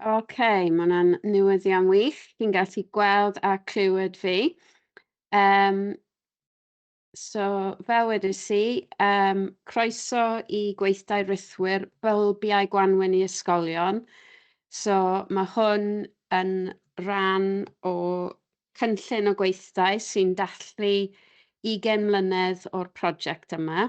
Ok, mae hwnna'n newyddion wych. Chi'n gallu gweld a clywed fi. Um, so, fel wedys i, um, croeso i gweithdai rithwyr bylbiau gwanwyn i ysgolion. So, mae hwn yn rhan o cynllun o gweithdai sy'n dathlu 20 mlynedd o'r prosiect yma.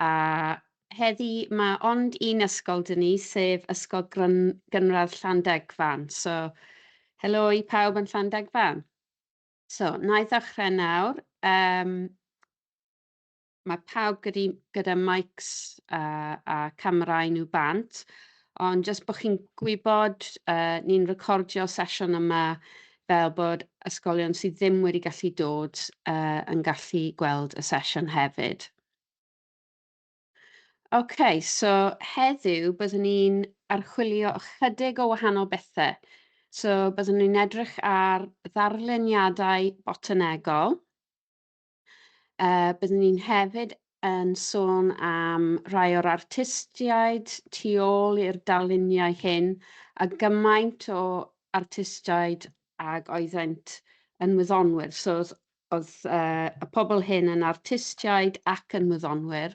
a heddi ma ond un ysgol dy ni sef ysgol gryn gynradd Llandegfan so helo i pawb yn Llandegfan so na i ddechrau nawr um, mae pawb gyda, gyda mics a, a camerau nhw bant ond jyst bod chi'n gwybod uh, ni'n recordio sesiwn yma fel bod ysgolion sydd ddim wedi gallu dod uh, yn gallu gweld y sesiwn hefyd. Ok, so heddiw byddwn ni'n archwilio ychydig o wahanol bethau. So byddwn ni'n edrych ar ddarluniadau botanegol. Uh, byddwn ni'n hefyd yn sôn am rai o'r artistiaid tu ôl i'r darluniau hyn a gymaint o artistiaid ag oeddent yn wyddonwyr. So Oedd y pobl hyn yn artistiaid ac yn wyddonwyr.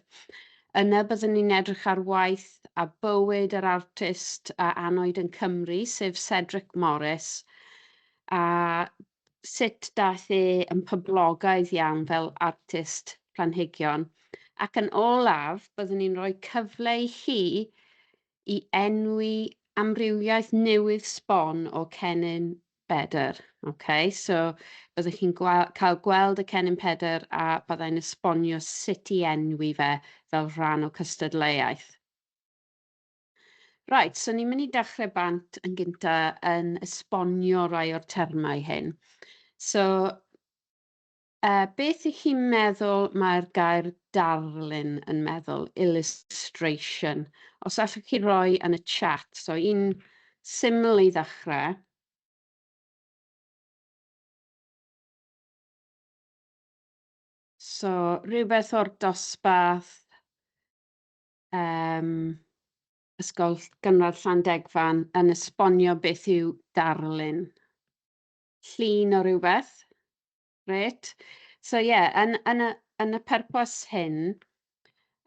Yna byddwn ni'n edrych ar waith a bywyd yr artist a anwyd yn Cymru, sef Cedric Morris, a sut daeth e yn poblogaidd iawn fel artist planhigion. Ac yn olaf, byddwn ni'n rhoi cyfle i chi i enwi amrywiaeth newydd sbon o cennin Bedr. Ok, so byddwch chi'n cael gweld y cennin Pedr a byddai'n esbonio sut i enwi fe fel rhan o cystadleuaeth. Right, so ni'n mynd i dechrau bant yn gynta yn esbonio rai o'r termau hyn. So, Beth y'ch chi'n meddwl mae'r gair darlun yn meddwl, illustration? Os allwch chi roi yn y chat, so un syml i ddechrau. So, rhywbeth o'r dosbarth um, Ysgol Gynradd Llandegfan yn esbonio beth yw darlun. llun o rywbeth. Grêt. So ie, yn, yn, y, yn y purpose hyn,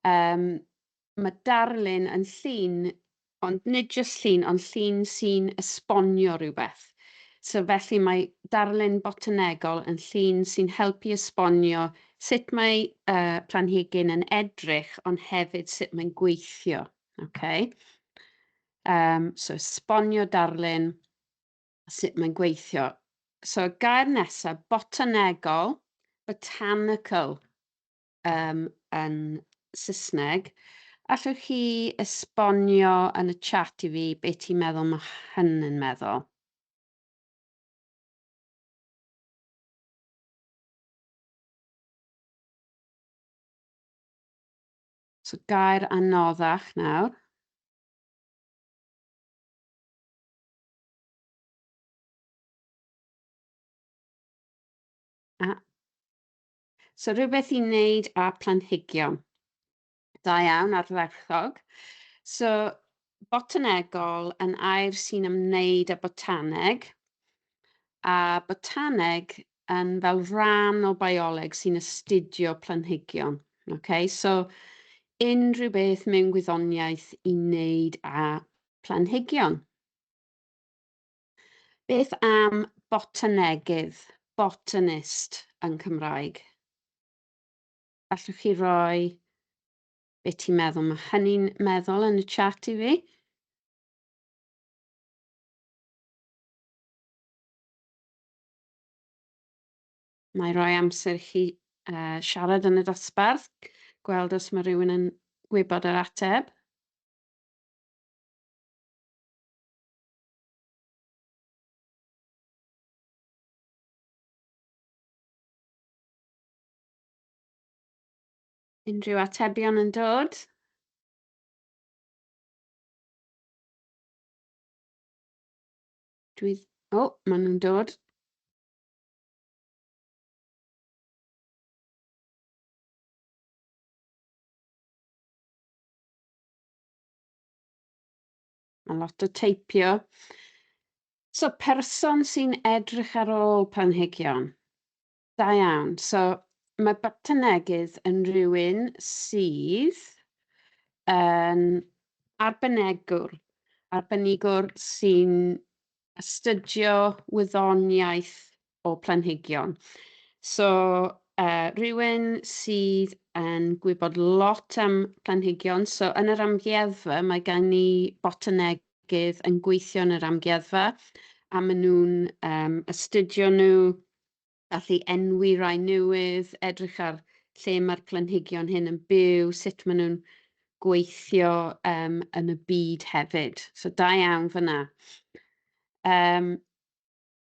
um, mae darlun yn llun, ond nid jyst llun, ond llun sy'n esbonio rhywbeth. So felly mae darlun botanegol yn llun sy'n helpu esbonio sut mae uh, planhigyn yn edrych, ond hefyd sut mae'n gweithio. Okay? Um, so esbonio darlun a sut mae'n gweithio. So, y gair nesaf, botanegol, botanical um, yn Saesneg. Allwch chi esbonio yn y chat i fi beth ti'n meddwl mae hynny'n meddwl? So gair anoddach nawr. Ah. So rhywbeth i wneud â planhigion. Da iawn, ardderchog. So, botanegol yn air sy'n ymwneud â botaneg, a botaneg yn fel rhan o bioleg sy'n astudio planhigion. Okay? So, unrhyw beth mewn gwyddoniaeth i wneud â planhigion. Beth am botanegydd, botanist yn Cymraeg? Allwch chi roi beth ti'n meddwl? Mae hynny'n meddwl yn y chat i fi. Mae rhoi amser i chi uh, siarad yn y dosbarth, gweld os mae rhywun yn gwybod yr ateb. Unrhyw atebion yn dod? Dwi... O, maen nhw'n dod. Mae lot o teipio. So, person sy'n edrych ar ôl planhigion. Da iawn. So, mae botanegydd yn rhywun sydd yn arbenegwr, arbenigwr sy'n astudio wyddoniaeth o planhigion. So, uh, rhywun sydd yn gwybod lot am planhigion, so yn yr amgueddfa mae gen ni botanegydd yn gweithio yn yr amgueddfa a maen nhw'n um, astudio nhw, allu enwi rai newydd, edrych ar lle mae'r planhigion hyn yn byw, sut maen nhw'n gweithio um, yn y byd hefyd. So da iawn fyna. Um,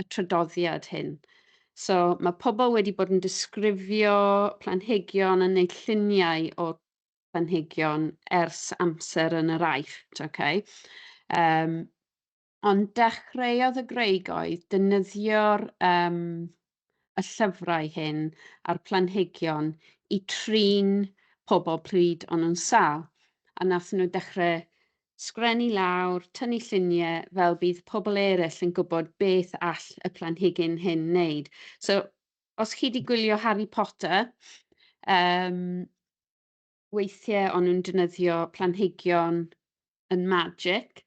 y trydoddiad hyn. So, mae pobl wedi bod yn disgrifio planhigion yn neud lluniau o planhigion ers amser yn yr aifft, okay? Um, ond dechreuodd y Greigoedd dynyddio'r um, y llyfrau hyn a'r planhigion i trin pobl pryd o'n nhw'n sal. A nath nhw dechrau sgrennu lawr, tynnu llunie fel bydd pobl eryll yn gwybod beth all y planhigyn hyn wneud. So, os chi wedi gwylio Harry Potter, um, weithiau o'n nhw'n defnyddio planhigion yn magic,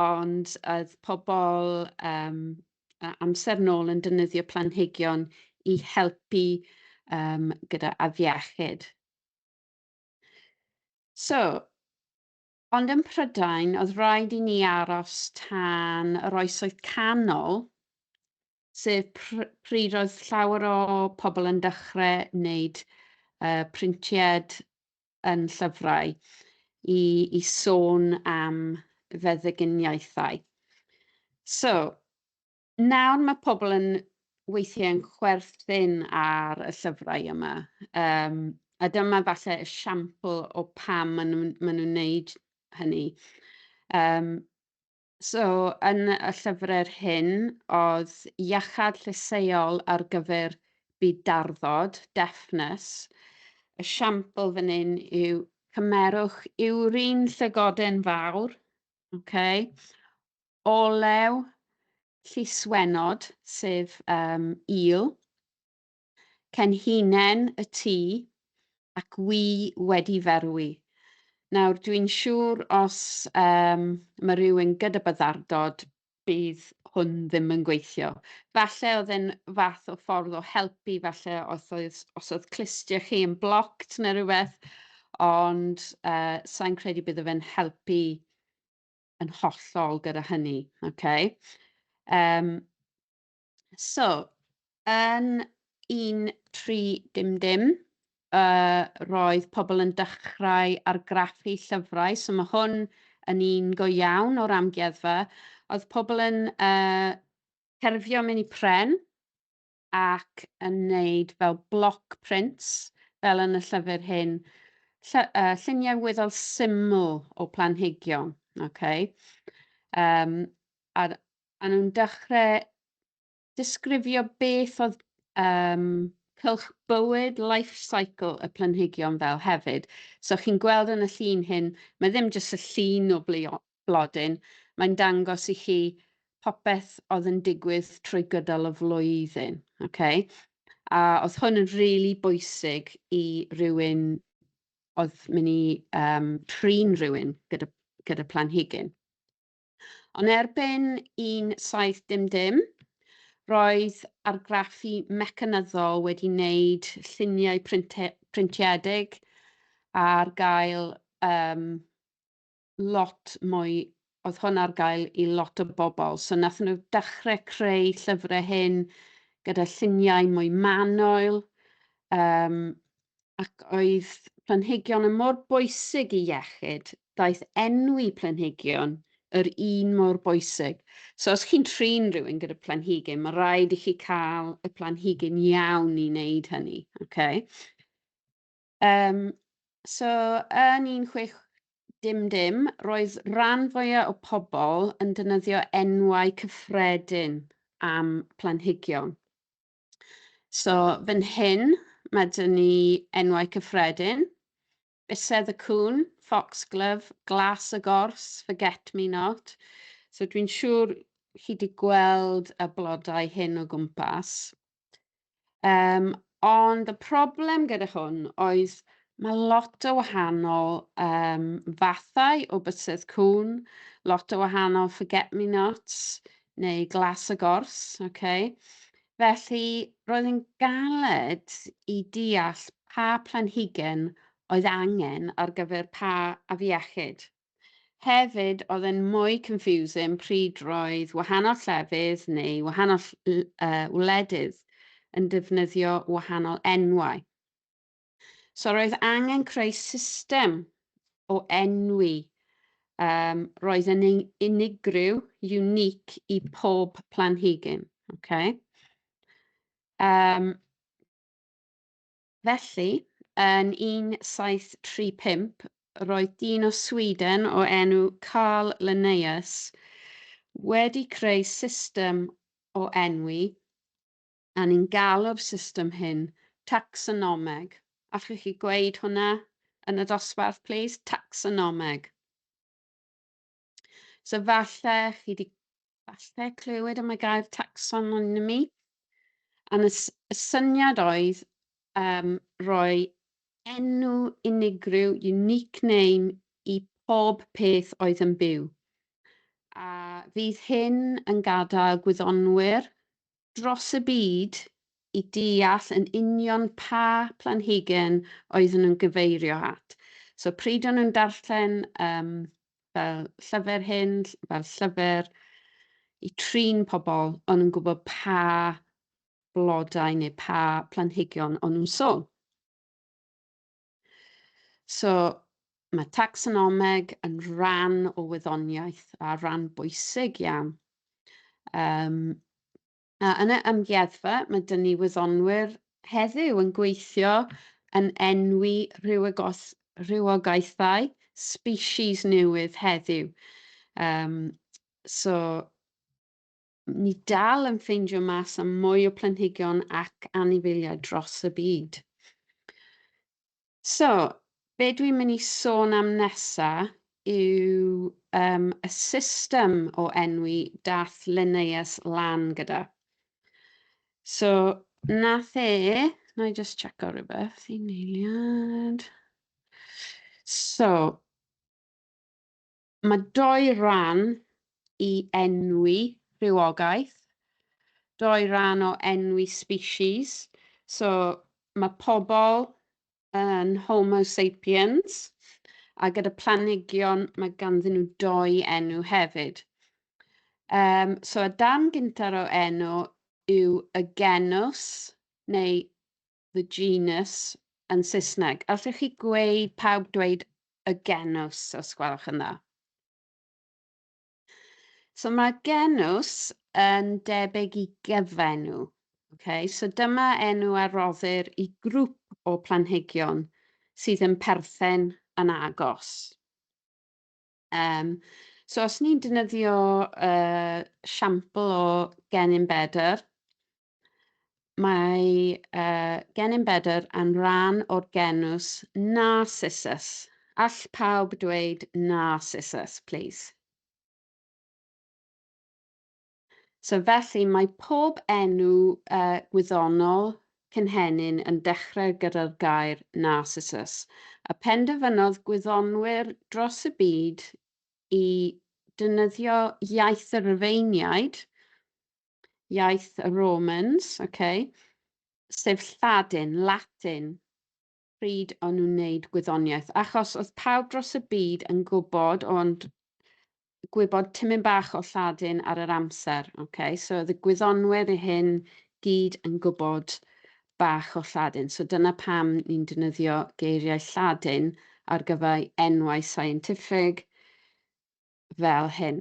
ond oedd pobl um, amser nôl yn defnyddio planhigion i helpu um, gyda afiechyd. So, Ond ym Mhrydain oedd raid i ni aros tan yr Oesoedd Canol, sef pryd oedd llawer o pobl yn dechrau wneud printied yn llyfrau i i sôn am feddyginiaethau. So, Nawr mae pobl yn weithiau yn chwerthin ar y llyfrau yma, um, a dyma falle esiampl o pam maen nhw'n ma nhw wneud hynny. Um, so, yn y llyfrau'r hyn, oedd iachad llysieuol ar gyfer byd darddod, deafness. Esiampl fan hyn yw cymerwch yw'r un llygoden fawr, okay? olew lluswennod, sef um, eel, cenhinen y tŷ ac wy wedi ferwi. Nawr, dwi'n siŵr os um, mae rhywun gyda byddardod bydd hwn ddim yn gweithio. Falle oedd e'n fath o ffordd o helpu, falle os oedd, os oedd clustia chi yn blocked neu rhywbeth, ond uh, sa'n credu bydde fe'n helpu yn hollol gyda hynny. Okay? Um, so, yn 1300, uh, roedd pobl yn dechrau argraffu llyfrau, so mae hwn yn un go iawn o'r amgueddfa. Oedd pobl yn uh, cerfio mynd i pren, ac yn wneud fel bloc prints, fel yn y llyfr hyn, lly, uh, lluniau weddol syml o planhigion, okay? um, a, a nhw'n dechrau disgrifio beth oedd um, cylch bywyd, life cycle y planhigion fel hefyd. So chi'n gweld yn y llun hyn, mae ddim jyst y llun o, blodyn, mae'n dangos i chi popeth oedd yn digwydd trwy gydol y flwyddyn. Okay? A oedd hwn yn rili really bwysig i rywun oedd mynd i um, trin rhywun gyda, gyda planhigyn. Ond erbyn 17 dim dim, roedd argraffu mecanyddol wedi wneud lluniau printiedig ar gael um, lot mwy, oedd hwn ar gael i lot o bobl. So nath nhw dechrau creu llyfrau hyn gyda lluniau mwy manoel, um, ac oedd planhigion yn mor bwysig i iechyd, daeth enwi planhigion yr un mor bwysig. So os chi'n trin rhywun gyda planhigyn, mae rhaid i chi cael y planhigyn iawn i wneud hynny. Okay? Um, so, yn 16dim, roedd rhan fwyaf o pobl yn dynyddio enwau cyffredin am planhigion. So, fan hyn, mae dyn ni enwau cyffredin, bysedd y cwn, foxglove, glas y gors, forget me not. So, dwi'n siŵr chi wedi gweld y blodau hyn o gwmpas. Um, ond y problem gyda hwn oedd mae lot o wahanol um, fathau o bysedd cwn, lot o wahanol forget-me-nots neu glas y gors. Okay? Felly roedd yn galed i deall pa planhigen oedd angen ar gyfer pa afiechyd. Hefyd, oedd e'n mwy confusing pryd roedd wahanol llefydd neu wahanol wledydd yn defnyddio wahanol enwau. So roedd angen creu system o enwi um, roedd yn unigryw, unique, i pob planhigyn. Okay? Um, Felly, yn 1735, roedd dyn o Sweden o enw Carl Linnaeus wedi creu system o enwi, a ni'n galw'r system hyn tacsonomeg. Allwch chi gweud hwnna yn y dosbarth, plîs? Tacsonomeg. So falle chi wedi falle clywed am y gair taxonomy, a y syniad oedd um, rhoi enw unigryw, unique name, i pob peth oedd yn byw. A fydd hyn yn gadael gwyddonwyr dros y byd i deall yn union pa planhigion oedden nhw'n gyfeirio at. So pryd o'n nhw'n darllen um, fel llyfr hyn, fel llyfr i trin pobl, o'n nhw'n gwybod pa blodau neu pa planhigion o'n nhw'n sôn. So, mae tacsonomeg yn rhan o wyddoniaeth a rhan bwysig iawn. Um, a yn y amgueddfa, mae dyn ni wyddonwyr heddiw yn gweithio yn enwi rhywogaethau species newydd heddiw. Um, so, ni dal yn ffeindio mas am mwy o planhigion ac anifeiliaid dros y byd. So, be dwi'n mynd i sôn am nesa yw um, y system o enwi dath Linnaeus lan gyda. So, nath e, na i just checo rhywbeth i neiliad. So, Mae dou ran i enwi rhywogaeth, dou ran o enwi species, so mae pobl yn homo sapiens, a gyda planhigion mae ganddyn nhw dou enw hefyd. Um, so y darn gyntaf o enw yw y genws, neu the genus yn Saesneg. Allwch chi gweud, pawb dweud y genws, os gwelwch yn dda. So mae genws yn debyg i gyfenw. Okay? So dyma enw a roddir i grŵp o planhigion sydd yn perthyn yn agos. Um, so os ni'n defnyddio uh, siampl o gennym bedr, Mae yy gennym bedr yn rhan o'r genws Narcissus. All pawb dweud Narcissus, plis? So felly mae pob enw uh, gwyddonol cynhenyn yn dechrau gyda'r gair Narcissus, a penderfynodd gwyddonwyr dros y byd i dynyddio iaith y Rufeiniaid iaith y Romans, okay, sef Lladin, Latin, pryd o'n nhw'n wneud gwyddoniaeth, achos oedd pawb dros y byd yn gwybod, ond gwybod tymyn bach o Lladin ar yr amser, okay? so oedd y gwyddonwyr i hyn gyd yn gwybod bach o Lladin. So dyna pam ni'n defnyddio geiriau Lladin ar gyfer enwau scientific fel hyn.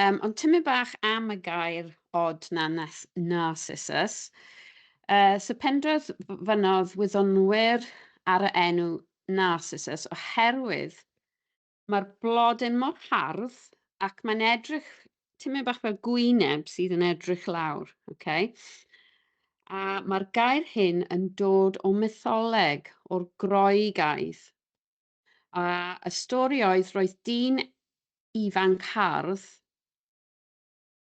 Um, ond tymyn bach am y gair od na nas, narcissus. Uh, so pendrodd fynodd wyddonwyr ar y enw narcissus oherwydd mae'r blodyn mor hardd ac mae'n edrych tymyn bach fel gwyneb sydd yn edrych lawr. Okay? a mae'r gair hyn yn dod o mytholeg o'r Groegaidd. A y stori oedd roedd dyn ifanc hardd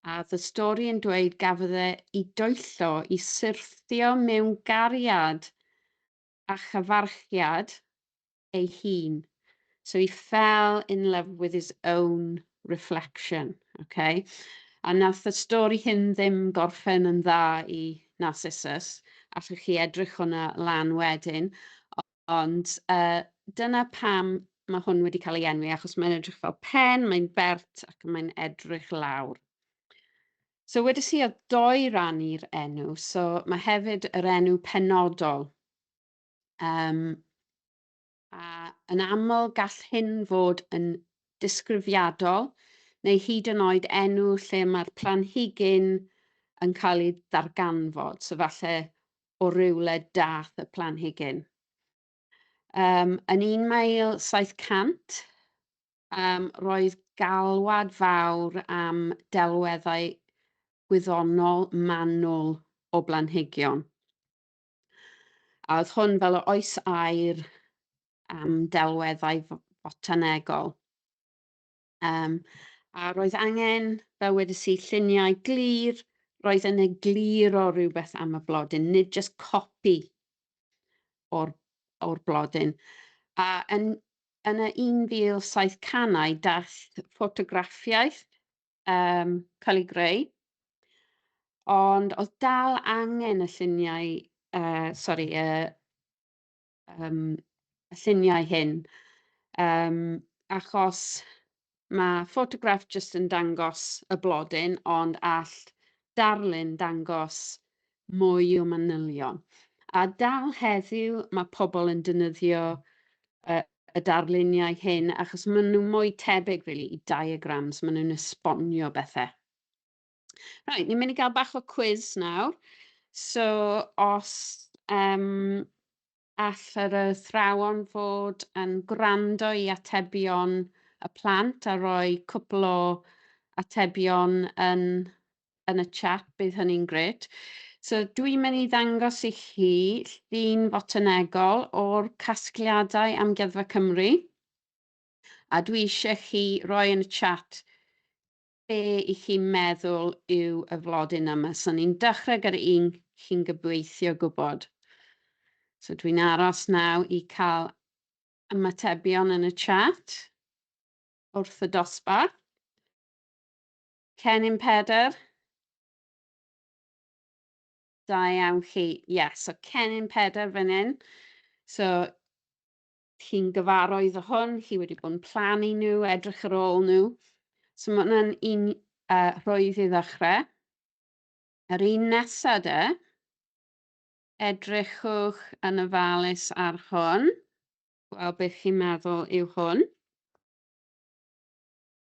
a oedd y stori yn dweud gafodd e i doello i syrthio mewn gariad a chyfarchiad ei hun. So he fell in love with his own reflection. Okay? A nath y stori hyn ddim gorffen yn dda i Narcissus, allwch chi edrych hwnna lan wedyn, Ond uh, dyna pam mae hwn wedi cael ei enwi, achos mae'n edrych fel pen, mae'n bert ac mae'n edrych lawr. So wedi si o doi ran i'r enw, so mae hefyd yr enw penodol. Um, a yn aml gall hyn fod yn disgrifiadol neu hyd yn oed enw lle mae'r planhigyn yn cael ei ddarganfod. So falle o rywle dath y planhigyn. Um, yn 1700, um, roedd galwad fawr am delweddau gwyddonol manwl o blanhigion. A oedd hwn fel o oes air am delweddau fotanegol. Um, a roedd angen, fel wedys i, lluniau glir, roedd yn eglir o rhywbeth am y blodyn, nid just copi o'r, or blodyn. A yn, yn y 1700au daeth ffotograffiaeth um, cael ei greu, ond oedd dal angen y lluniau, uh, sorry, uh, um, y lluniau hyn, um, achos mae ffotograff jyst yn dangos y blodyn, ond all darlun dangos mwy o manylion. A dal heddiw mae pobl yn dynyddio uh, y darluniau hyn achos maen nhw mwy tebyg really, i diagrams, maen nhw'n esbonio bethau. Right, ni'n mynd i gael bach o quiz nawr. So, os um, all yr athrawon fod yn gwrando i atebion y plant a roi cwpl o atebion yn, yn y chat, bydd hynny'n gret. So dwi'n mynd i ddangos i chi llun fotanegol o'r casgliadau Amgueddfa Cymru a dwi eisiau chi roi yn y chat be i chi meddwl yw y flodyn yma. So ni'n dechrau gyda un chi'n gobeithio gwybod. So dwi'n aros naw i cael ymatebion yn y chat wrth y dosbarth. Cennin Pedr. Da iawn chi. Yes, so Cennin Pedr fan hyn. So chi'n gyfarwydd o hwn, chi wedi bod yn plannu nhw, edrych ar ôl nhw. So mae hwnna'n un uh, rhwydd i ddechrau. Yr un nesaf de, edrychwch yn ofalus ar hwn, gweld beth chi'n meddwl yw hwn.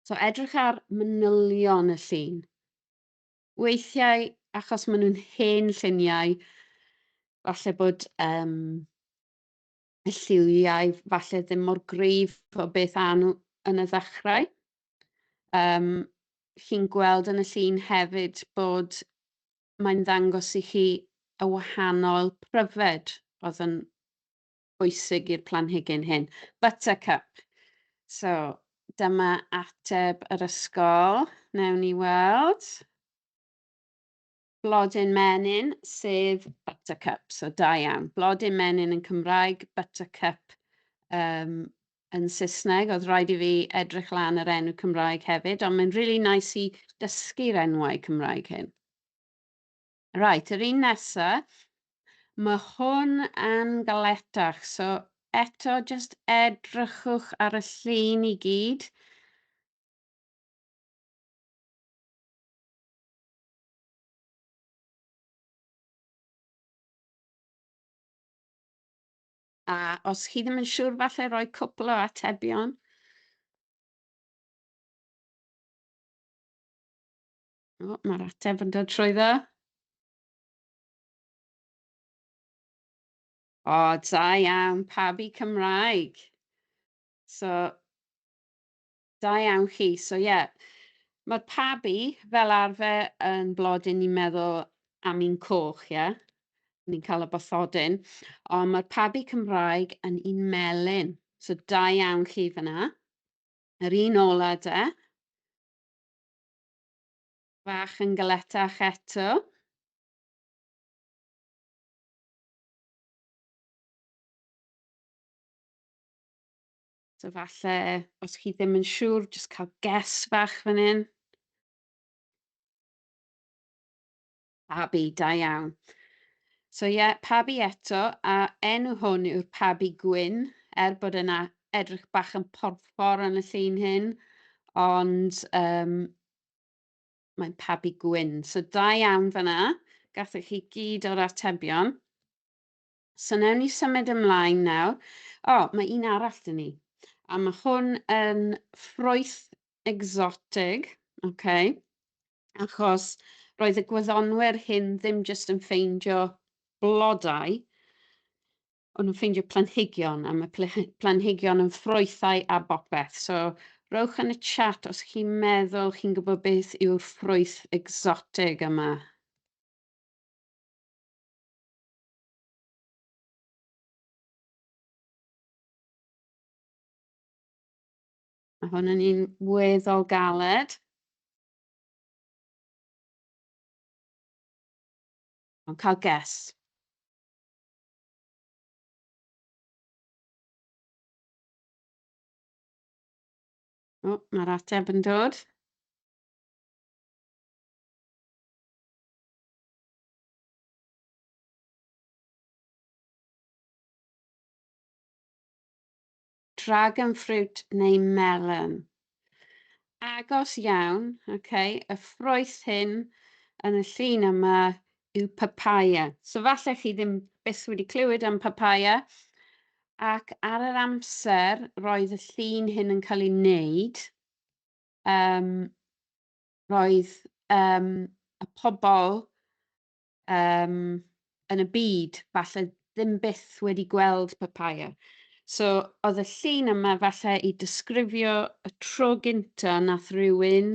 So edrych ar manylion y llun. Weithiau, achos maen nhw'n hen lluniau, falle bod um, lliwiau falle ddim mor gryf o beth a nhw yn y ddechrau. Um, chi'n gweld yn y llun hefyd bod mae'n ddangos i chi y wahanol pryfed oedd yn bwysig i'r planhigyn hyn. Buttercup. So, dyma ateb yr ysgol. Newn ni weld. Blodyn menyn, sef buttercup, so da iawn. Blodyn menyn yn Cymraeg, buttercup um, yn Saesneg. Oedd rhaid i fi edrych lan yr enw Cymraeg hefyd, ond mae'n really nice i dysgu'r enwau Cymraeg hyn. Right, yr un nesa, mae hwn yn galetach, so eto just edrychwch ar y llun i gyd. A os chi ddim yn siŵr, falle rhoi cwpl o atebion. O, mae'r ateb yn dod trwy dda. O, da iawn, pawb i Cymraeg. So, Da iawn chi. So ie, yeah, mae'r pabi fel arfer yn blodyn ni'n meddwl am un coch, ie? Yeah? Ni'n cael y bathodyn. Ond mae'r pabi Cymraeg yn un melyn. So da iawn chi fyna. Yr un ola de. Fach yn galetach eto. So falle, os chi ddim yn siŵr, jyst cael ges fach fan hyn. Pabi, da iawn. So ie, yeah, pabi eto, a enw hwn yw'r pabi gwyn, er bod yna edrych bach yn porffor yn y llun hyn, ond um, mae'n pabi gwyn. So da iawn fanna, gathoch chi gyd o'r atebion. So newn ni symud ymlaen nawr. O, mae un arall dyn ni. A mae hwn yn ffrwyth exotig, okay? achos roedd y gwyddonwyr hyn ddim jyst yn ffeindio blodau, ond yn ffeindio planhigion, a mae planhigion yn ffrwythau a bopeth. So, rowch yn y chat os chi'n meddwl chi'n gwybod beth yw'r ffrwyth exotig yma. Mae hwn yn un weddol galed. Ond cael ges. O, mae'r ateb yn dod. Dragon fruit neu melon. Agos iawn, okay, y ffroes hyn yn y llun yma yw papaya. So falle chi ddim byth wedi clywed am papaya, ac ar yr amser roedd y llun hyn yn cael ei wneud, um, roedd um, y pobl um, yn y byd, falle ddim byth wedi gweld papaya. So, oedd y llun yma falle i disgrifio y tro gynta nath rhywun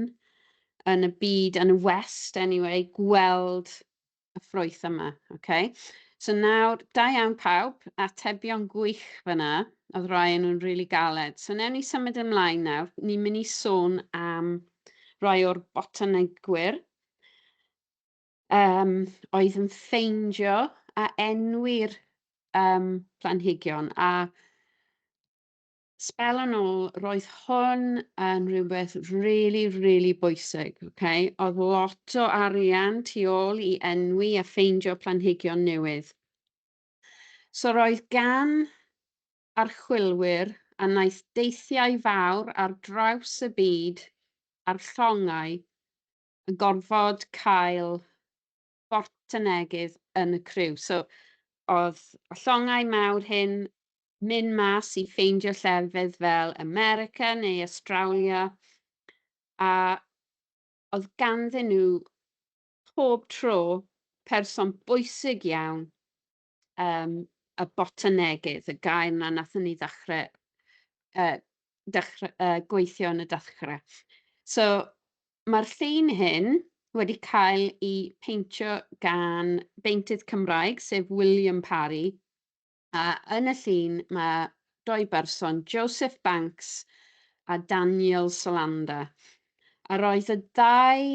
yn y byd, yn y West anyway, gweld y ffrwyth yma. Okay? So nawr, da iawn pawb, atebion gwych fyna, oedd rhoi nhw'n rili really galed. So newn ni symud ymlaen nawr, ni'n mynd i sôn am rhoi o'r botanegwyr. um, oedd yn ffeindio a enwi'r um, planhigion a spel yn ôl, roedd hwn yn rhywbeth really, really bwysig. Okay? Oedd lot o arian tu ôl i enwi a ffeindio planhigion newydd. So roedd gan archwilwyr a wnaeth deithiau fawr ar draws y byd a'r llongau yn gorfod cael bort y neges yn y criw. So, oedd y llongau mawr hyn mynd mas i ffeindio llefydd fel America neu Australia, a oedd ganddyn nhw pob tro person bwysig iawn um, y botanegydd, y gair na nathon ni ddechrau, uh, dechrau uh, gweithio yn y dechrau. So, mae'r llun hyn wedi cael ei peintio gan beintydd Cymraeg, sef William Parry, a yn y llun mae doi berson, Joseph Banks a Daniel Solander. A roedd y ddau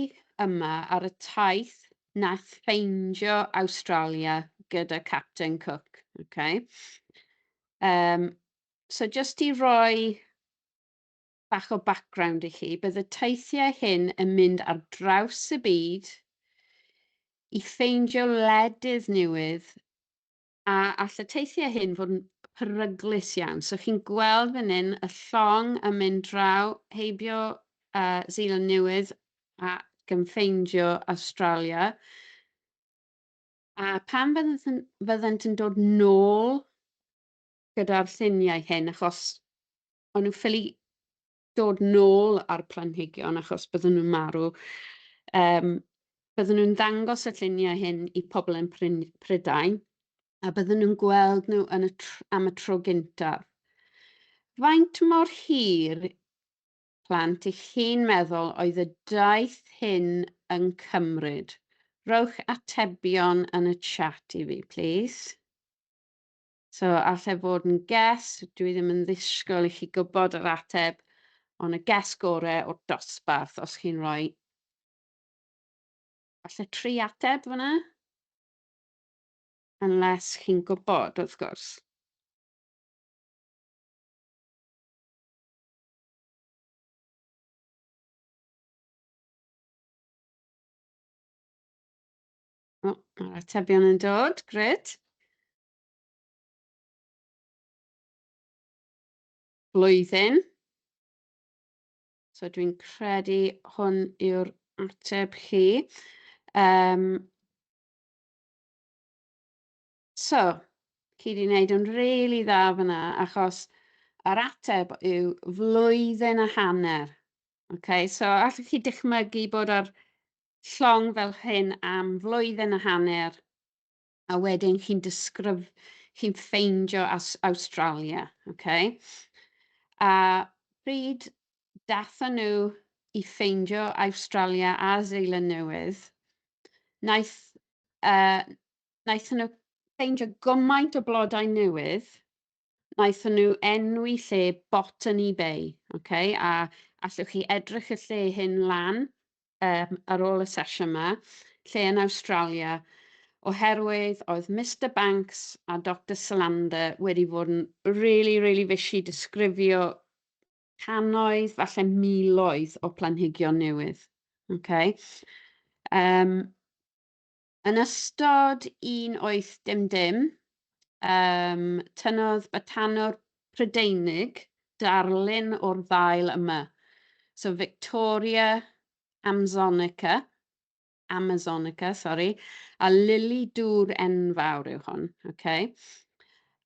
yma ar y taith nath ffeindio Awstralia gyda Capten Cook. Okay. Um, so just i roi bach o background i chi, bydd y teithiau hyn yn mynd ar draws y byd i ffeindio ledydd newydd a all y teithiau hyn fod yn peryglus iawn. So chi'n gweld fan hyn y llong yn mynd draw heibio uh, Zealand Newydd a gymffeindio Australia. A pan fyddant yn, fyddant yn dod nôl gyda'r lluniau hyn, achos o'n nhw ffili dod nôl â'r planhigion achos bydden nhw'n marw. Um, bydden nhw'n ddangos y lluniau hyn i pobl yn Prydain a bydden nhw'n gweld nhw yn y am y tro gyntaf. Faint mor hir plant i chi'n meddwl oedd y daith hyn yn cymryd? Rowch atebion yn y chat i fi, please. So, allai fod yn guess, dwi ddim yn ddisgwyl i chi gwybod yr ateb, ond y guess gore o'r dosbarth, os chi'n rhoi falle tri ateb fyna, unless chi'n gwybod, wrth gwrs. O, mae'r atebion yn dod, gred. Blwyddyn. So dwi'n credu hwn yw'r ateb chi. Um, so, chi wedi gwneud yn rili really dda fyna, achos yr ateb yw flwyddyn a hanner. Okay, so allwch chi dychmygu bod ar llong fel hyn am flwyddyn a hanner a wedyn chi'n disgrif... chi'n ffeindio Aus- Awstralia, oce? A pryd daethon nhw i ffeindio Awstralia a Seland Newydd, wnaeth yy wnaethon nhw ffeindio gymaint o blodau newydd, wnaethon nhw enwi lle bot yn eBay, okay? a allwch chi edrych y lle hyn lan um, ar ôl y sesiwn yma, lle yn Awstralia, oherwydd oedd Mr Banks a Dr Salander wedi fod yn really, really fishy disgrifio canoedd, falle miloedd o planhigion newydd. Okay? Um, Yn ystod un 8-dim-dim, um, tynnodd batanwr Prydeinig darlun o'r ddail yma. So Victoria Amzonica, Amazonica, sorry, a lili dŵr enfawr yw hwn, okay?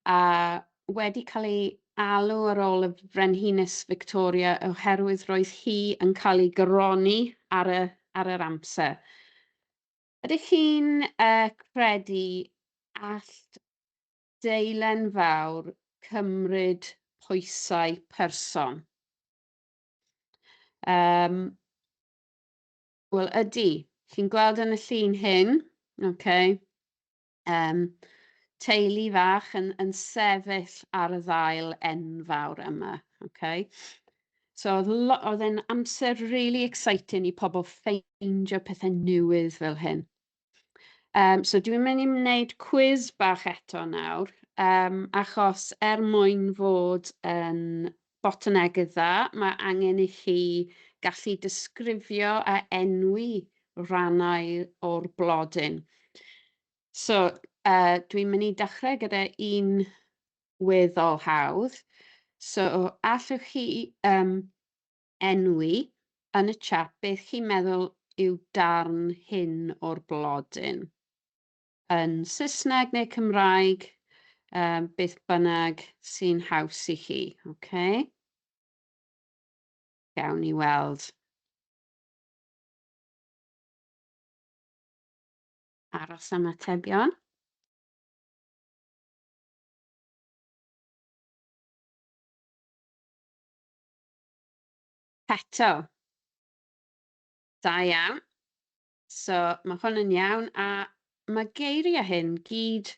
a wedi cael ei alw ar ôl y Frenhines Victoria oherwydd roedd hi yn cael ei gyroni ar, y, ar yr amser. Ydych chi'n uh, credu allt deilen fawr cymryd pwysau person? Um, Wel, ydy. Chi'n gweld yn y llun hyn, okay. Yym, teulu fach yn, yn sefyll ar y ddail enfawr yma, okay? So oedd e'n amser really exciting i pobl ffeindio pethau newydd fel hyn. Um, so dwi'n mynd i wneud cwiz bach eto nawr, um, achos er mwyn fod yn Botanegydd dda, mae angen i chi gallu disgrifio a enwi rhannau o'r blodyn. So, uh, dwi'n mynd i dechrau gyda un weddol hawdd. So, allwch chi um, enwi yn y chat beth chi'n meddwl yw darn hyn o'r blodyn? yn Saesneg neu Cymraeg, um, beth bynnag sy'n haws i chi. Okay? Gawn ni weld. Aros am atebion. Eto. Da iawn. So mae hwn yn iawn a mae geiriau hyn gyd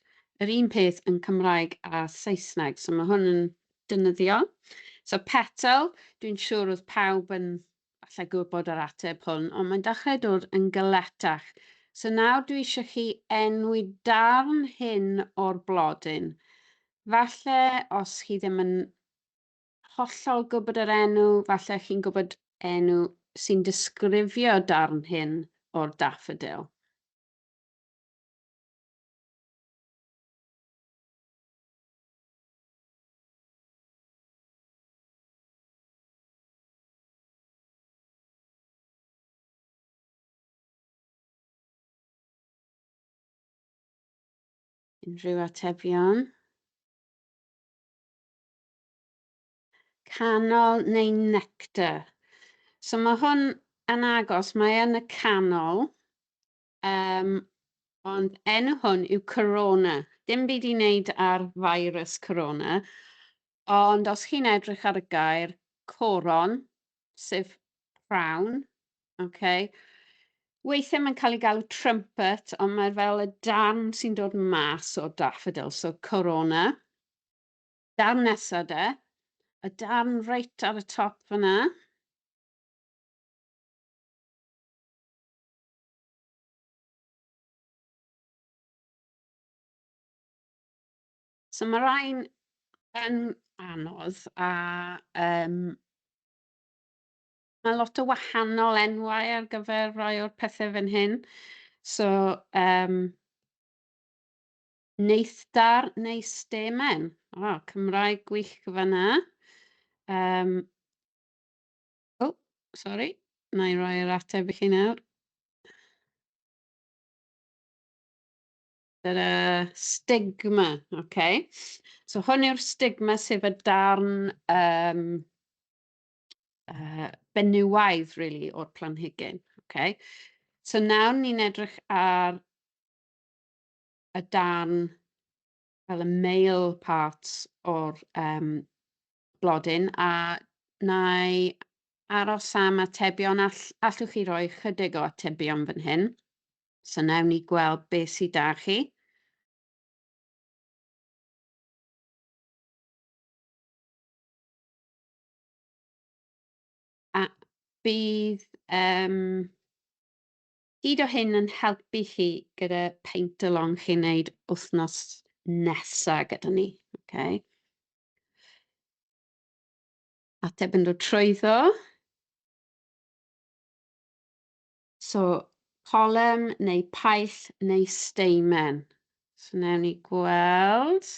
yr un peth yn Cymraeg a Saesneg. So mae hwn yn dynyddiol. So petal, dwi'n siŵr oedd pawb yn allai gwybod yr ateb hwn, ond mae'n dechrau dod yn gyletach. So nawr dwi eisiau chi enwi darn hyn o'r blodyn. Falle os chi ddim yn hollol gwybod yr enw, falle chi'n gwybod enw sy'n disgrifio darn hyn o'r daffodil. Unrhyw atebion? Canol neu nectar. So mae hwn yn agos, mae yn y canol, um, ond enw hwn yw Corona. Dim byd i wneud ar virus Corona, ond os chi'n edrych ar y gair coron, sef crown, okay, weithiau mae'n cael ei galw trumpet, ond mae fel y darn sy'n dod mas o daffodil, so Corona. darn nesa de, y darn reit ar y top fyna. So mae rhain yn anodd a um, mae lot o wahanol enwau ar gyfer rhai o'r pethau fan hyn. So, um, Neithdar neu stemen? O, Cymraeg gwych fanna. Um, oh, sorry. Na i roi'r ateb i chi nawr. Yr uh, stigma, oce. Okay. So hwn yw'r stigma sef y darn um, uh, benywaidd, really, o'r planhigyn. Okay. So nawr ni'n edrych ar y darn fel y male part o'r um, blodyn a na i aros am atebion all, allwch chi roi chydig o atebion fan hyn. So nawn ni gweld beth sydd da chi. A bydd um, Ydo hyn yn helpu chi gyda paint along chi'n neud wythnos nesa gyda ni? Okay. Ateb yn dod trwyddo. So, colem neu paill neu steimen. So, newn ni gweld.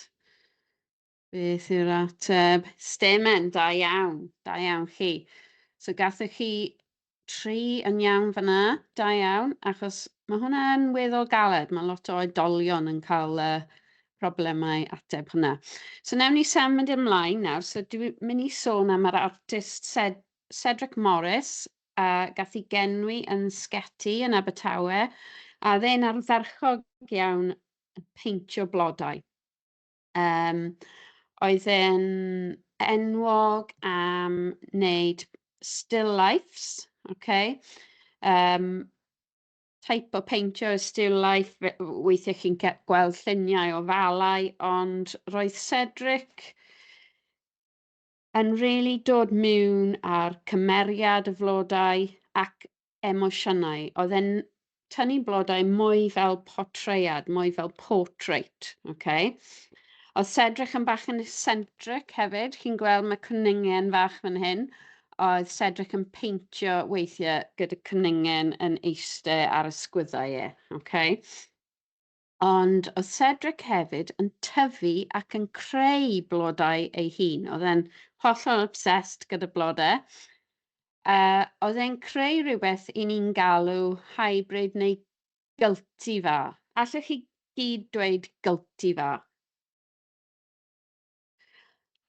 Beth yw'r ateb? Stemen, da iawn, da iawn chi. So gathoch chi tri yn iawn fanna, da iawn, achos mae hwnna yn weddol galed, mae lot o oedolion yn cael uh, problemau ateb hwnna. So newn ni sam mynd ymlaen nawr, so dwi'n mynd i sôn am yr artist Ced Cedric Morris, a gath i genwi yn Sgeti yn Abertawe, a dde'n ardderchog iawn peintio blodau. Um, oedd e'n enwog am wneud still lifes, okay? Um, type o peintio y still life, weithiau chi'n gweld lluniau o falau, ond roedd Cedric yn rili dod miwn a'r cymeriad y flodau ac emosiynau oedd e'n tynnu blodau mwy fel portreiad mwy fel portrait ok oedd Cedric yn bach yn eccentric hefyd chi'n gweld mae cwningen fach fan hyn oedd Cedric yn peintio weithiau gyda cwningen yn eiste ar ysgwyddau e ok Ond oedd Cedric hefyd yn tyfu ac yn creu blodau ei hun. Oedd e'n hollol obsessed gyda blodau. Uh, oedd e'n creu rhywbeth i ni'n galw hybrid neu gylti fa. Allwch chi gyd dweud gylti fa?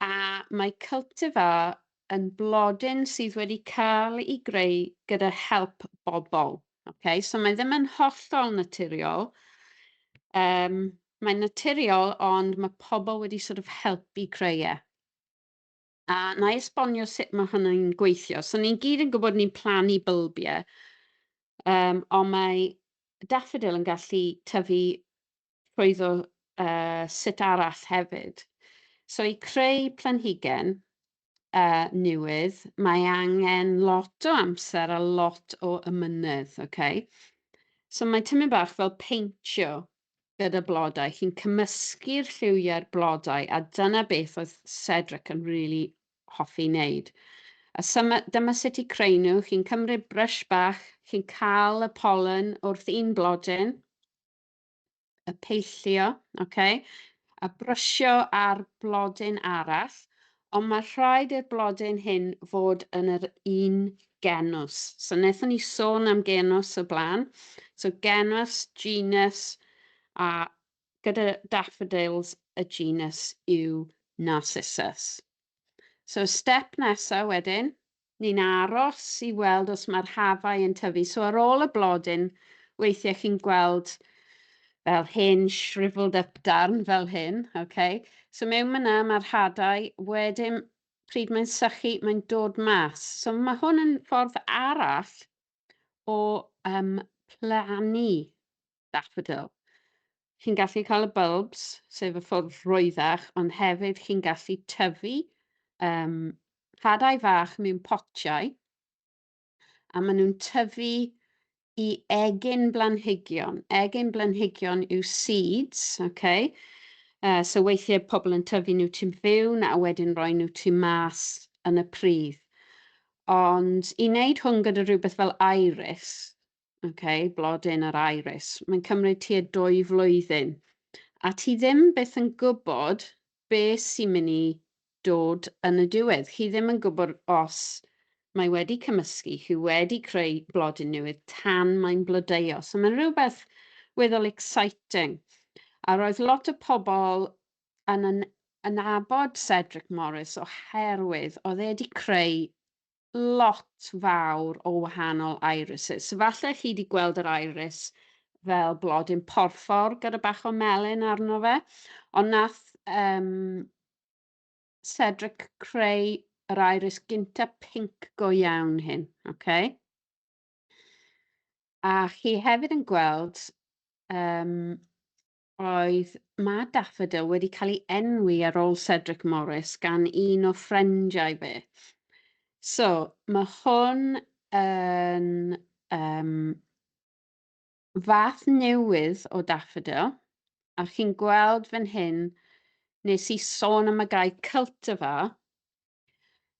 A mae Cultivar yn blodyn sydd wedi cael ei greu gyda help bobl. Okay? So mae ddim yn hollol naturiol. Um, mae'n naturiol ond mae pobl wedi sort of helpu creu e. A na i esbonio sut mae hwnna'n gweithio. So ni'n gyd yn gwybod ni'n plannu bylbiau, um, ond mae daffodil yn gallu tyfu rhwydd o uh, sut arall hefyd. So i creu planhigen, uh, newydd, mae angen lot o amser a lot o ymynydd, okay? So mae tymyn bach fel peintio gyda blodau. Chi'n cymysgu'r lliwiau'r blodau a dyna beth oedd Cedric yn rili really hoffi wneud. A syma, dyma sut i creu nhw. Chi'n cymryd brush bach, chi'n cael y pollen wrth un blodyn, y peillio, okay, a brysio ar blodyn arall, ond mae rhaid i'r blodyn hyn fod yn yr un genws. So wnaethon ni sôn am genws o blaen. So genws, genus, a gyda daffodils y genus yw Narcissus. So step nesaf wedyn, Ni'n aros i weld os mae'r hafau yn tyfu. So ar ôl y blodyn, weithiau chi'n gweld fel hen shrivelled up darn fel hyn. Okay. So mewn myna mae'r hadau, wedyn pryd mae'n sychu, mae'n dod mas. So mae hwn yn ffordd arall o um, plannu Daffodil. Chi'n gallu cael y bulbs, sef y ffwrdd rwyddach, ond hefyd chi'n gallu tyfu um, hadau fach mewn potiau, a maen nhw'n tyfu i egin blanhigion. Egin blanhigion yw seeds, okay? Uh, so weithiau pobl yn tyfu nhw ti'n fewn a wedyn roi nhw ti'n mas yn y pridd. Ond i wneud hwn gyda rhywbeth fel iris, okay, blodyn yr iris, mae'n cymryd tua dwy flwyddyn. A ti ddim beth yn gwybod be sy'n mynd i dod yn y diwedd. Chi ddim yn gwybod os mae wedi cymysgu, chi wedi creu blodyn newydd tan mae'n blodeuo. So mae'n rhywbeth weddol exciting. A roedd lot o pobl yn, yn, yn abod Cedric Morris oherwydd oedd e wedi creu lot fawr o wahanol irises. So falle chi wedi gweld yr iris fel blodyn porffor gyda bach o melyn arno fe, ond nath um, Cedric creu yr iris gynta pink go iawn hyn. Okay? A chi hefyd yn gweld um, Roedd Mad Daffodil wedi cael ei enwi ar ôl Cedric Morris gan un o ffrindiau fe. So, mae hwn yn um, fath newydd o Daffodil, a chi'n gweld fan hyn, nes i sôn am y gae cultivar,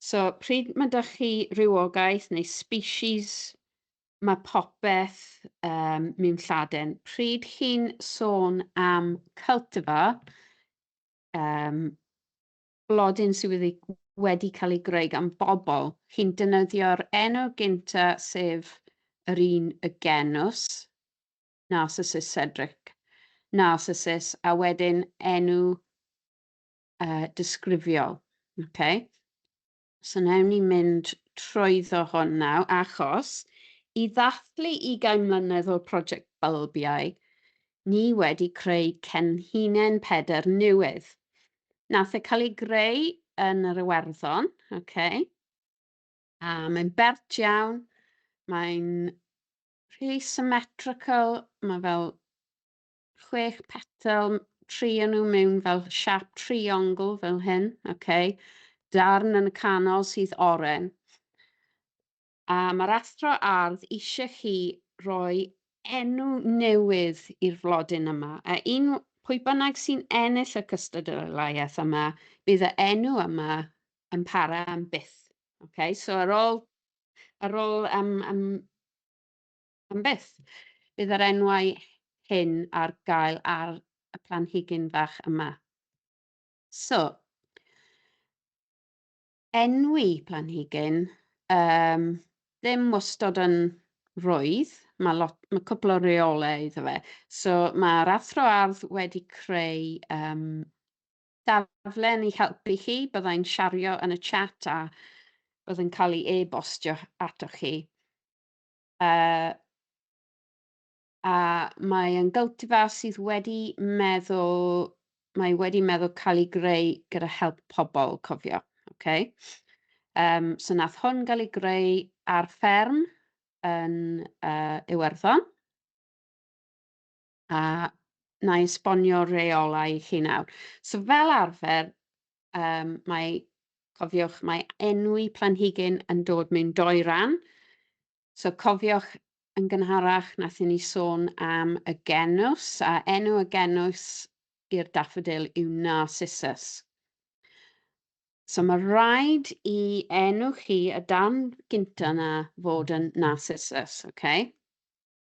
So, pryd mae 'da chi rhywogaeth neu species, mae popeth um, mewn Lladin. Pryd chi'n sôn am cultivar, um, blodyn sydd wedi, wedi cael ei greu gan bobl, chi'n dynyddio'r enw gynta sef yr un y genws, Narcissus cedric, Narcissus, a wedyn enw uh, disgrifiol. Okay. So newn ni mynd trwyddo hwn naw, achos i ddathlu 20 mlynedd o'r prosiect Bylbiau, ni wedi creu cenhinen peder newydd. Nath e cael ei greu yn yr Iwerddon, okay. a mae'n bert iawn, mae'n rhy symmetrical, mae fel chwech petal, trio nhw mewn fel siap triongl fel hyn, okay. darn yn y canol sydd oren. A mae'r athro ardd eisiau chi roi enw newydd i'r flodyn yma, a un pwy bynnag sy'n ennill y cystadleuaeth yma, bydd y enw yma yn para am byth. Okay? So ar ôl, ar ôl um, um, Am byth! Bydd yr enwau hyn ar gael ar y planhigyn fach yma. So, enwi planhigyn, um, ddim wastod yn rwydd, mae, lot, mae cwpl o reolau iddo fe. So mae'r athro ardd wedi creu um, daflen i helpu chi, byddai'n siario yn y chat a byddai'n cael ei e-bostio atoch chi. Uh, a mae yn gyltifa sydd wedi meddwl, mae wedi meddwl cael ei greu gyda help pobl, cofio. Okay. Um, so nath hwn gael ei greu ar fferm yn uh, Iwerddon. a na esbonio rheolau i chi nawr. So fel arfer, um, mae, cofiwch, mae enwi planhigyn yn dod mewn doi ran. So cofiwch yn gynharach nath ni sôn am y genws, a enw y genws i'r daffodil yw Narcissus. So mae rhaid i enw chi y dan gynta na fod yn Narcissus, okay?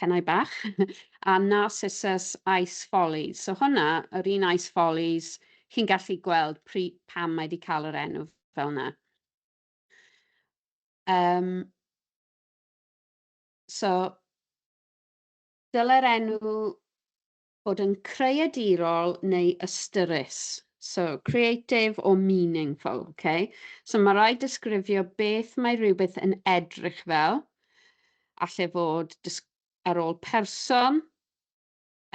Cenau Bach, a Narcissus Ice Follies. So hwnna, yr un Ice Follies, chi'n gallu gweld pri, pam mae wedi cael yr enw fel yna. Um, so, dyle'r enw Bod yn creadirol neu ystyrus. So, creative or meaningful, ok? So, mae rhaid disgrifio beth mae rhywbeth yn edrych fel. Alle fod ar ôl person,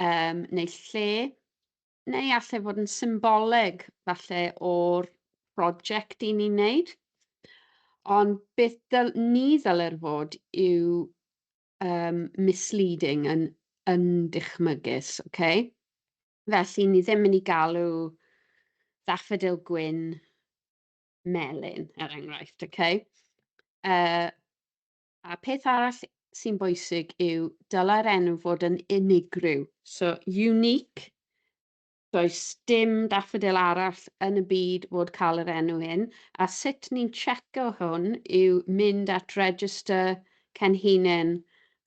um, neu lle, neu alle fod yn symboleg, falle o'r prosiect i ni'n neud. Ond beth ni ddyler fod yw um, misleading, yn, yn dychmygus, oce? Okay? Felly, ni ddim yn ei galw ddaffodil gwyn melyn, er enghraifft, oce? Okay? Uh, a peth arall sy'n bwysig yw dylai'r enw fod yn unigryw. So, unique Does dim daffodil arall yn y byd fod cael yr enw hyn, a sut ni'n tseco hwn yw mynd at Register Cenhinen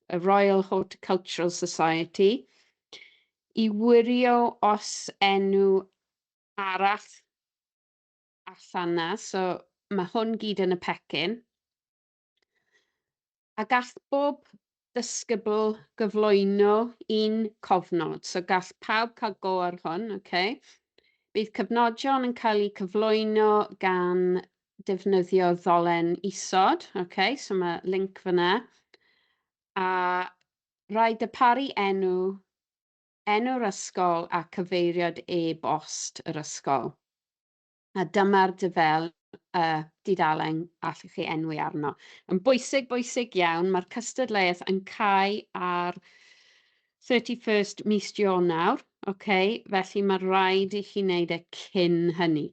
y Royal Horticultural Society i wirio os enw arall allan 'na, so mae hwn gyd yn y pecyn. A gall bob dysgybl gyflwyno un cofnod. So gall pawb cael go ar hwn, oce? Okay? Bydd cyfnodion yn cael eu cyflwyno gan defnyddio ddolen isod, oce? Okay? So mae link fyna. A rhaid y paru enw, enw'r ysgol a cyfeiriad e-bost yr ysgol. A dyma'r dufel y dudalen allwch chi enwi arno. Yn bwysig, bwysig iawn, mae'r cystadleuaeth yn cau ar 31st mis Ionawr, okay? felly mae rhaid i chi wneud e cyn hynny.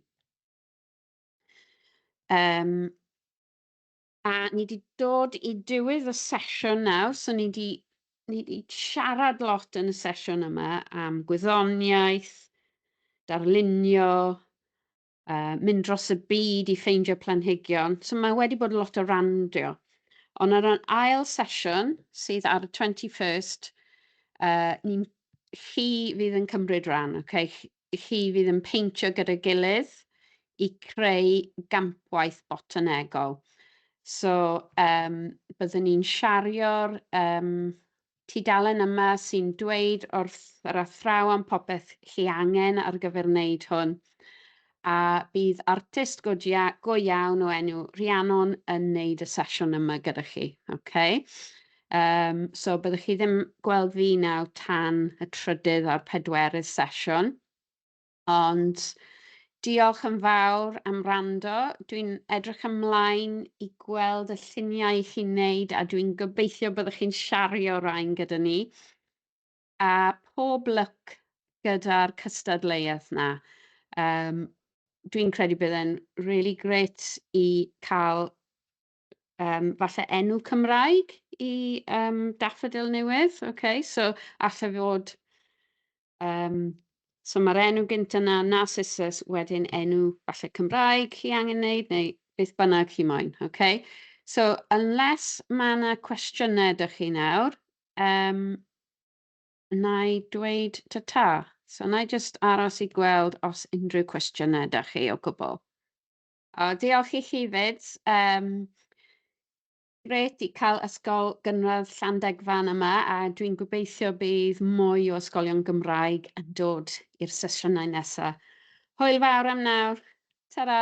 Um, A ni wedi dod i diwedd y sesiwn nawr, so ni wedi ni wedi siarad lot yn y sesiwn yma am gwyddoniaeth, darlunio, uh, mynd dros y byd i ffeindio planhigion. So mae wedi bod lot o randio. Ond ar yr ail sesiwn, sydd ar y 21st, uh, ni'n chi fydd yn cymryd rhan, okay? chi fydd yn peintio gyda'i gilydd i creu gampwaith botanegol. So, um, byddwn ni'n siario'r um, tudalen yma sy'n dweud wrth yr athrawon popeth chi angen ar gyfer wneud hwn. A bydd artist go, go iawn o enw Rhiannon yn wneud y sesiwn yma gyda chi. Okay? Yym, so byddwch chi ddim gweld fi nawr tan y trydydd a'r pedwerydd sesiwn. Ond diolch yn fawr am wrando. Dwi'n edrych ymlaen i gweld y lluniau i chi'n neud a dwi'n gobeithio byddwch chi'n shario rhain gyda ni. A pob lwc gyda'r cystadleuaeth 'na. Yym, dwi'n credu bydd e'n rili grêt i cael um, falle enw Cymraeg i um, daffodil newydd. Okay? So, allai fod... Um, so mae'r enw gynt yna, Narcissus, wedyn enw falle Cymraeg chi angen wneud, neu beth bynnag chi moyn. Okay? So, unless mae yna cwestiynau ydych chi nawr, um, na i dweud ta ta. So, na i just aros i gweld os unrhyw cwestiynau ydych chi o gwbl. O, diolch i chi 'fyd. Yym, grêt i cael Ysgol Gynradd Llandegfan yma a dwi'n gobeithio bydd mwy o ysgolion Gymraeg yn dod i'r sesiynau nesa. Hwyl fawr am nawr. Ta-ra!